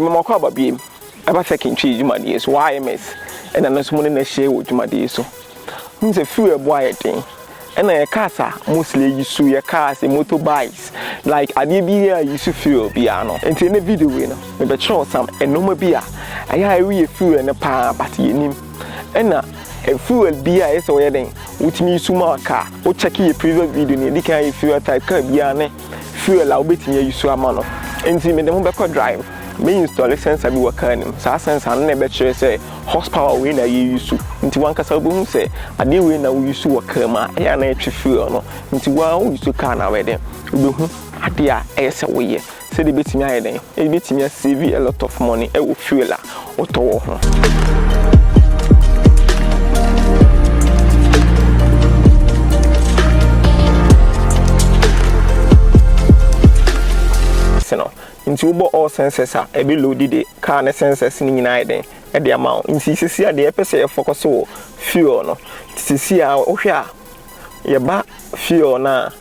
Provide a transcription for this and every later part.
Mmɔkɔ aba biom. Ɛba sɛ kentwi dwumadie so wɔ IMS ɛna no nso mo ne no ahyia wɔ dwumadie so. Wonim sɛ fuel ɛbo ayɛ den. Ɛna yɛ cars a mostly yi so yɛ cars, yɛ motor bikes, like adeɛ biara a yi so fuel biara no. Nti ɛnɛ video wei no me bɛkyerɛ wo some nnoɔma bi a ɛyɛ a ɛreyɛ fuel no paa but yɛnim. Ɛna fuel biara a ɛyɛ sɛ wo yɛ dɛn wotumi yi so ma car. Wo check yɛ previous video no yɛdi kan ayɛ fuel type car biara ne fuel a wobɛtumi ayi so ama no. Enti mede ho bɛkɔ drive, mɛ install sensor bi wɔ car no mu, saa sensor no na ɛbɛkyerɛ sɛ horse power wei na yɛyi so. Nti wankasa wobɛhu sɛ adeɛ wei na woyi so wɔ car mu a ɛyɛ a na ɛtwe fuel no. Nti wo ara woyi so car no a woyɛ dɛn, wobɛhu adeɛ a ɛyɛ sɛ woyɛ sɛdeɛ ɛbɛtumi ayɛ dɛn, ɛbɛtumi a save a lot of money wɔ fuel a. wotɔ wɔ ho. Nti wobɔ all sensors a ɛbɛ loadi de car ne sensors no nyinaa ayɛ den de ama wo. Nti sisi a deɛ yɛpɛ sɛ yɛ focus wɔ fuel no. Sisi a wohwɛ a yɛba fuel no a.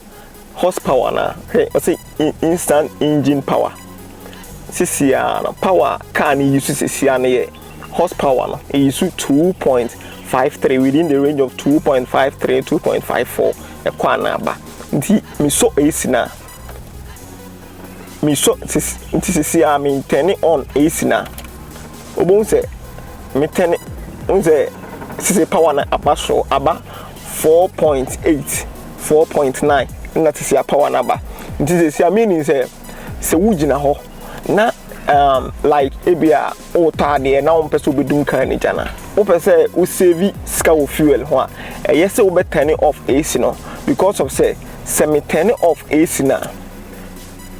Horse power anaa? Hwɛ, ɔse instant engine power. Sisi ara no, power a car no yi so sisi ara no yɛ horse power no, eyi so 2.53, within the range of 2.53, 2.54, ɛkɔ anaa ba. Nti, mesɔ AC no a, me sɔ sis nti sisi a me turn on AC na obohu sɛ me turn n sɛ sisi power na aba soro aba four point eight four point nine na sisi a power na aba nti sisi a meaning sɛ sɛ wogyina hɔ na um, like ebi a wotɔ adeɛ na wɔmpɛ sɛ wobɛdum kaa no gya no wopɛ sɛ wo save sika wɔ fuel ho a ɛyɛ sɛ wobɛtɛne off AC no because of sɛ sɛ metɛne off AC no a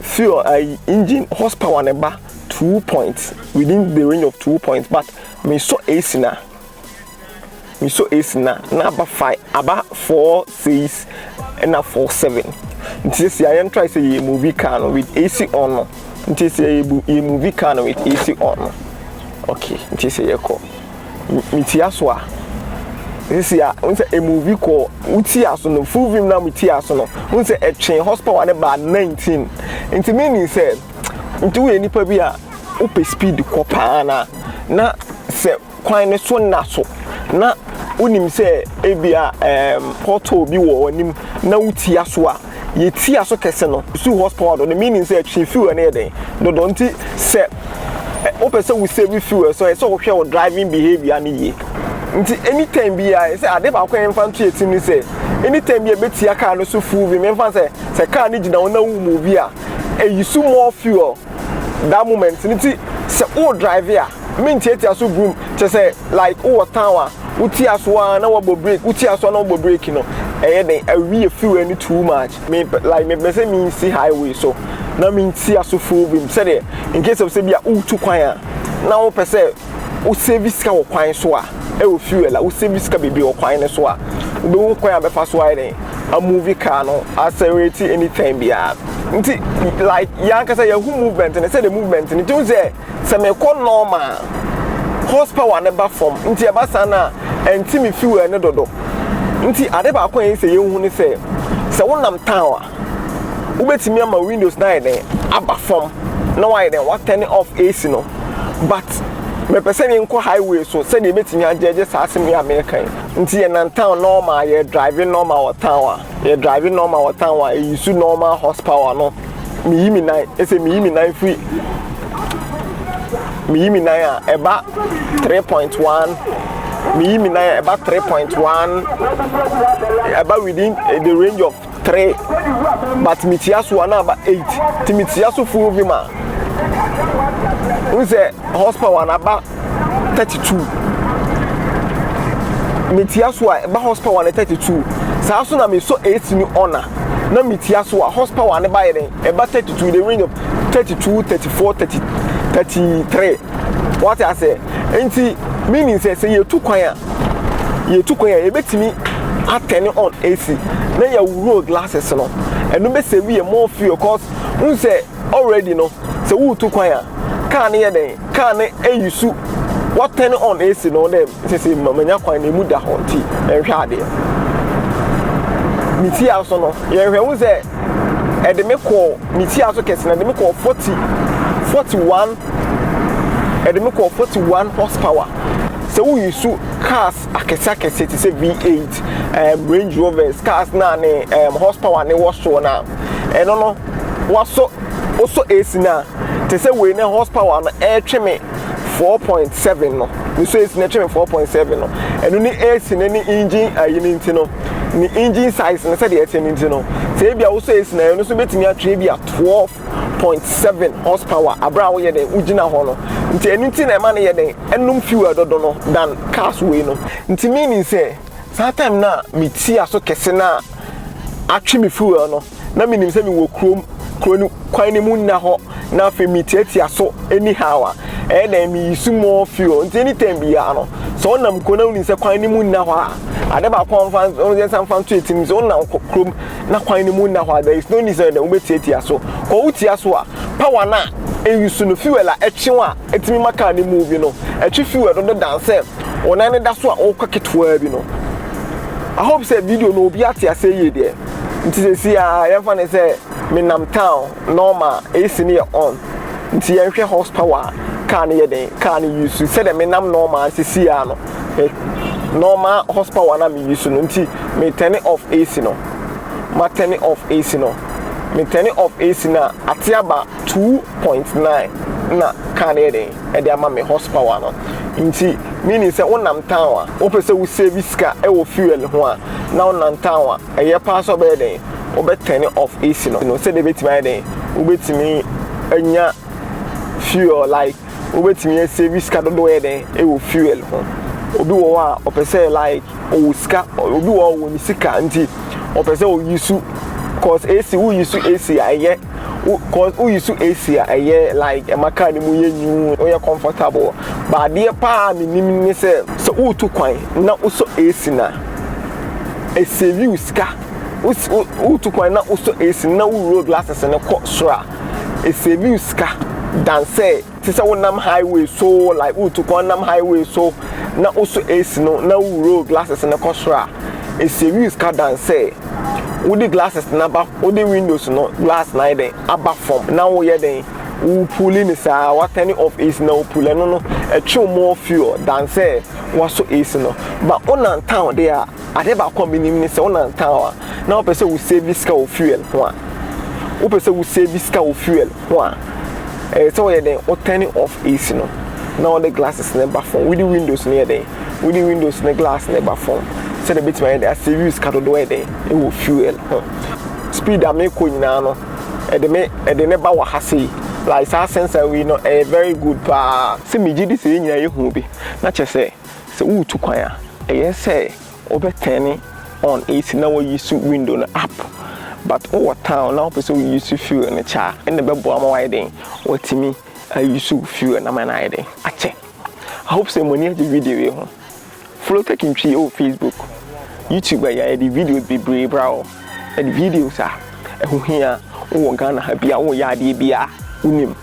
fuel ayi engine horse power no ba two points within the range of two points but mesɔ ac na mesɔ ac na na aba five aba four six ɛna four seven nti sisi a yɛn try sɛ yɛ movie car no with ac on no nti sɛ yɛ yɛ movie car no with ac on no okay nti sɛ yɛ kɔ. metia so a sisi a n sɛ emuvi kɔ wo tia so no full vim na me tia so no n sɛ ɛtwe horsepower no baa 19 nti me nim sɛ nti woyɛ nipa bi a wopɛ speed kɔ paa na na sɛ kwan no so nna so na wonim sɛ ebi a ɛɛm pothole bi wɔ w'anim na wo tia so a Yɛtua so kɛse no, susuw horsepower do. Ne meaning nso yɛ twe fuel no yɛ dɛn dodoɔ. Nti sɛ wopɛ sɛ wo save fuel nso ɛsɛ sɛ wo hwɛ wo driving behaviour no yie. Nti any time biara ɛsɛ sɛ ade baako a yɛmfa nto yɛn tirim ne sɛ any time biara yɛbɛtua car no so full vim. Yɛmfa no sɛ sɛ car no gyina hɔ na wo move a, ɛyi so more fuel that moment. Nti sɛ wo drive a. me ntiatia so brum kyɛ sɛ like wowɔ town a wotia so ara na wabɔ break wotia so ara na wabɔ break no ɛyɛ den awi yɛ fuel no too much me like mepɛ sɛ me nsi highway so na me ntia so full bim sɛdeɛ in case of sɛ bi a wotu kwan a na wopɛ sɛ wo save sika wɔ kwan so a ɛwɔ fuel a wo save sika bebree wɔ kwan no so a wobɛhu kwan a bɛfa so ayɛ den a movie car no accelerate anytime biara nti like yɛn ankasa yɛhu movement no sɛdeɛ movement no ti ho sɛ sɛ mekɔ nɔɔma a, hɔs pawa no ba fam, nti ɛba saa no a, ɛnte me fiwɛl no dodo. Nti ade baako a ɛyɛ sɛ yɛnhu ne sɛ, sɛ wonam tawn a, wobɛtumi ama windows no ayɛ dɛn, aba fam na woayɛ dɛn, woatɛne ɔff AC no. But mepɛ sɛ menkɔ highway so sɛdeɛ ɛbɛtumi agyɛɛgye saa asɛm wei a mereka yi. Nti yɛnam tawn nɔɔma a, yɛdraive nɔɔma wɔ tawn a, Yɛ drive normal wɔ town a yɛ use normal horse power no me yi me nan ɛsɛ me yi me nan firi me yi me nan a ɛba 3.1 me yi me nan a ɛba 3.1 ɛba within eh, the range of 3 but me tia so a na aba 8 ti me tia so full vim a n sɛ horse power na aba thirty two metia so a ɛba horse power ne thirty two saa so na mesɔ ac ne ɔna na metia so a horse power ne ba yɛ dɛn ɛba thirty two the range of thirty two thirty four thirty thirty three wate asɛ nti meaning sɛ sɛ yɛtu kwan a yɛtu kwan a yɛbɛtumi atɛne on ac na yɛawuro glasses no ɛno bɛsɛ wie more fuel cause n sɛ already no sɛ wotu kwan a kaa no yɛ dɛn Car no eyi su wa turn on AC no dɛ sese ma manya kwan na emu da hɔ ntsi yɛnhwɛ adeɛ. Me fie aso no yɛhwɛ hu sɛ ɛde me kɔɔ me fie aso kɛse na ɛde me kɔɔ forty forty one ɛde me kɔɔ forty one horse power sɛ woyi su cars akɛseakɛseɛ te sɛ V8, um, Range Rovers, cars no a ne um, horsepower ne wɔ soɔ no a ɛno no wasɔ wosɔ AC no a te sɛ wei ne horsepower no ɛretwe me 4.7 no mesɔ AC no ɛtwe me 4.7 no ɛno ne AC no ne engine ayi no nti no ne engine size no sɛdeɛ ɛte no nti no sɛ ebi a wosɔ AC no ɛno nso bɛtumi atwe ebi a 12 point seven horse power abere a woyɛ dɛn wogyina hɔ no nti ɛno nti na ɛma no yɛ dɛn ɛnom fuel dodo no dan cars wei no nti meaning sɛ saa time no a meti aso kɛse no a atwe me fuel no na menim sɛ mewɔ kurom kuro no kwan no mu nna hɔ na afei metiatia so anyhow a ɛyɛ dɛn meyi so more fuel nti anytime biara no sɛ wonam kuro na wonim sɛ kwan no mu nna hɔ a ade baako a wɔmfa wɔn nsa mfa nto etim sɛ wonam kurom na kwan no mu nna hɔ a, there is no need sɛ wobɛtiatia so. Kɔ wo tia so a, power no a ɛuse no, fuel a ɛtwe wo a ɛtumi ma car no move no, ɛtwe fuel no dedan sɛ wo nan no da so a wokɔ ketewaa bi no. I hope sɛ video no obi ate ase yie deɛ. Nti sɛsi a yɛmfa ne sɛ menam town normal, AC no yɛ on. Nti yɛnhwɛ horsepower a car no yɛ den, car no use sɛdeɛ menam normal sɛsi a no. me normal horse power na me use no nti me turn off AC no ma turn off AC no me turn off AC na ate aba 2.9 na car no yɛ den ɛde ama me horse power no nti meaning sɛ wonam town a wopɛ sɛ wo save sika ɛwɔ fuel ho a na wonam town a ɛyɛ paa sɛ ɔbɛyɛ den wobɛ turn off AC no sɛdeɛ ɛbɛtumi ayɛ den wobɛtumi anya fuel like Wobɛtumi asave sika dodoɔ yɛ dɛn wɔ fuel ho? Obi wɔ hɔ a ɔpɛ sɛ like ɔwɔ sika obi wɔ hɔ a ɔwɔ ne sika nti ɔpɛ sɛ ɔyi su cause AC woyi su AC a ɛyɛ wo cause woyi su AC a ɛyɛ like ɛma car no mu yɛ nyuu woyɛ comfortable but adeɛ paa a menim ne sɛ sɛ woretu kwan na wosɔ AC no a ɛsave wo sika wosi wo woretu kwan na wosɔ AC no na wowura glasses no kɔ soro a Esiebiw sika dan sɛ te sɛ wonam highway so like woretu kwan nam highway so na wosɔ AC no na wo roll glasses no kɔ soro a, esiebiw sika dan sɛ wode glasses no aba wode windows no glass no ayɛ dɛn aba fam na woyɛ dɛn worepuuli no saa wa turn off AC na wopuuli ɛno no ɛtwew more fuel dan sɛ woasɔ AC no but wonam town deɛ a. Ade baako a menim ne sɛ wo nam town a na wopɛ sɛ wo save sika wɔ fuel ho a, wopɛ sɛ wo save sika wɔ fuel ho a, ɛyɛ sɛ woyɛ dɛn, wo turn off AC no na wode glasses no ba fam, wode windows no yɛ dɛn, wode windows no glass no ba fam sɛdeɛ ɛbɛtumi ayɛ dɛn, a save wo sika dodoɔ yɛ dɛn wɔ fuel ho. Speed a mekɔ nyinaa no, ɛde me, ɛde ne ba wɔ ha sei, like saa sensor wei no ɛyɛ very good paa. Sɛ megye di sɛ yɛn nyinaa yɛhu bi na kyerɛ sɛ. Sɛ woretu kwan a, ɛyɛ sɛ wobɛ turn on AC na wo use window no up but wowɔ town na wopɛ sɛ wo use fuel no kyɛ a, ɛnna ɛbɛboa ama woayɛ dɛn? Woatumi a use wo fuel no ama no ayɛ dɛn? Akyɛ. I hope sɛ mo ani agye video wei ho. Follow Tech Ntwi wɔ Facebook, YouTube a yɛde videos bebree bra wo, ɛde videos a ɛho hia wowɔ Ghana ha bi a woyɛ adeɛ bi a wonim.